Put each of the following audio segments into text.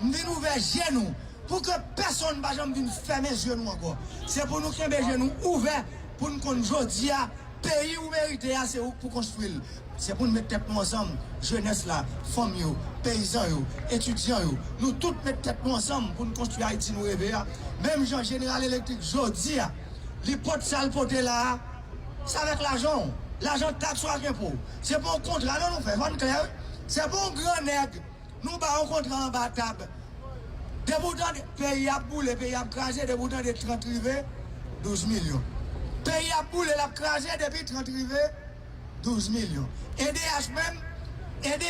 M vin ouvè je nou pou ke pèsonn pa janm vin fèmen je nou ankò. Se pou nou kenbe je nou ouvè pou n konn jodi a peyi ou merite a se ou k pou konstwi l. Se pou n met tèt nou ansanm, jenès la, fanm yo, peyizan yo, etidyan yo, nou tout met tèt nou ansanm pou n konstwi Ayiti nou reve a. Menm jan Jeneral Elektrik jodi a li pot sa l pote la a, se avèk lajan w, lajan taks ou ak enpo w. Se pa yon kontra non nou fè, fò n klè wi. Se pa yon gran nèg. Nou ba yon kontra anba tab. Depi ou tande peyi ap boule, peyi ap kraze, depi ou tande 30 rive, 12 milyon. Peyi ap boule, l ap kraze, depi 30 rive, 12 milyon. Edh menm, edh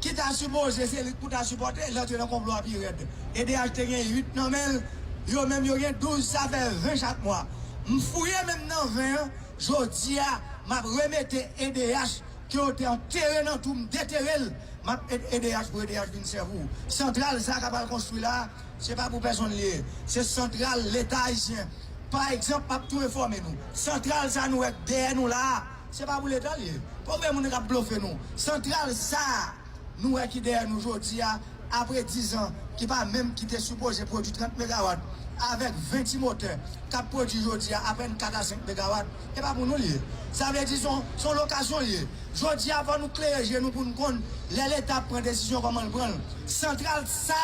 ki ta sipoze se li k pou ta sipòte, l antre nan konplo a pi rèd. Edh te gen 8 nan men l, yo menm yo gen 12, sa fè 20 chak mwa. M fouye menm nan 20 an, jodi a m ap remete edh. Ke yo te antere nan tou m detere l map et edh pou edh vin sèv ou santral sa kap al konstwi la se pa pou pèsonn li ye se santral leta ayisyen pa egzanp map tou enfòme nou santral sa nou wè dèyè nou la se pa pou leta li ye poko gen moun kap blofe nou santral sa. Nou wè ki dèyè nou jodi a, apre dizan ki pa menm ki te sipoze pwodui 30 megawat, avèk 20 ti motè k ap pwodui jodi a apèn 4 a 5 megawat, e pa pou nou l ye. Sa vle di s on lokasyon l ye. Jodi a fò nou klere je nou pou n konn lè Leta ap pran desizyon kòman l pran l. Santral sa.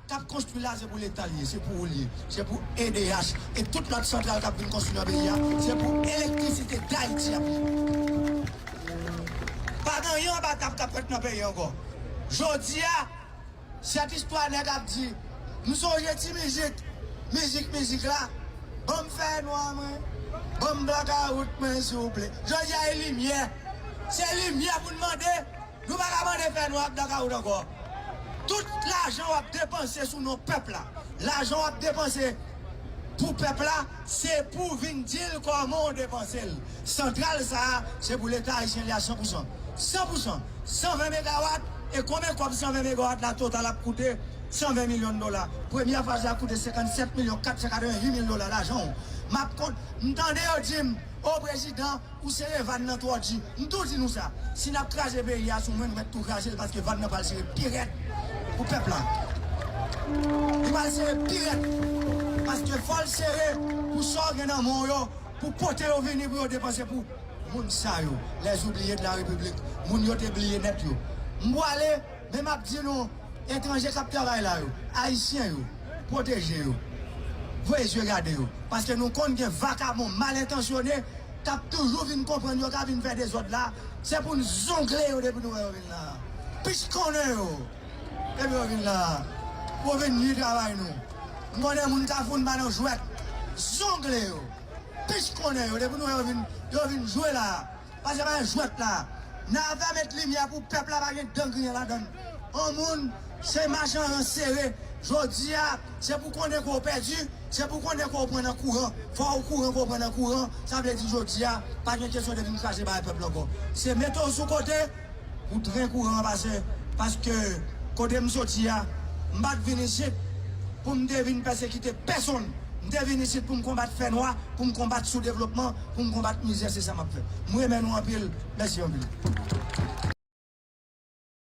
Kap konstwi la se pou leta li ye se pou ou li ye se pou edh e tout lot santral kap vin konstwi nan peyi a se pou elektrisite dayiti ap ye pa gen anyen anba tab kap fèt nan peyi ankò jodia sèt istwa nèg ap di m sonje ti mizik mizik mizik la banm fè nwa mwen banm blakawout mwen souple jodia e limyè se limyè pou n mande. Nou pa ka mande fè nwa blakawout ankò. Tout lajan wap depanse sou non pèp la, lajan wap depanse pou pèp la se pou vin dil kòman w depansel. Santral sa a se pou leta ayisyen li a 100 pousan. 100 pousan, 120 megawat e konbyen kòb 120 megawat la total ap koute 120 milyon dola. Premyè faz la koute 57 milyon 488 mil dola lajan w. Map kont, m tande yo dim o prezidan. Ou sere van nan twò di. M tou di nou sa, si nap kraze peyi a sou mwen nou mèt tou kraze l paske van nan pral sere pi rèd pou pèp la. Li pral sere pi rèd paske fò l sere pou sa w gen nan men w yo pou pote yo vini pou yo depanse pou moun sa yo les oubliés de la république moun yo te bliye nèt yo. M pwale. Men map di nou etranje kap travay la yo ayisyen yo pwoteje yo voye zye gade yo paske nou konn gen vakabon mal entansyone kap toujou vin konprann yo ka vin fè dezòd la se pou n zongle yo depi nou wè yo vin la plis konnen yo depi yo vin la pou vin nwi travay nou m konnen moun kafou n pa nan jwèt zongle yo plis konnen yo depi nou wè yo vin yo vin jwe la. Pa jwe bay jwèt la. Nava met limyè pou pèp la pa gen dan griyen ladann. On moun se mach an ran sere. Jodi a, se pou konnen ke w pèdi, se pou konnen ke w pran nan kouran. Fò ou kouran pou w pran nan kouran. Sa vle di jodi a, pa gen kesyon de vin kraze bagay pèp la ankò. Se mete w sou kote. Ou trè kouran an pase paske kote m soti a, m pa t vin isit pou m te vin pèsekite pèsonn. M te vin isit pou m konbat fè nwa, pou m konbat soudevlopman, pou m konbat mizè. Se sa m ap fè. M renmen nou anpil. Mèsi anpil.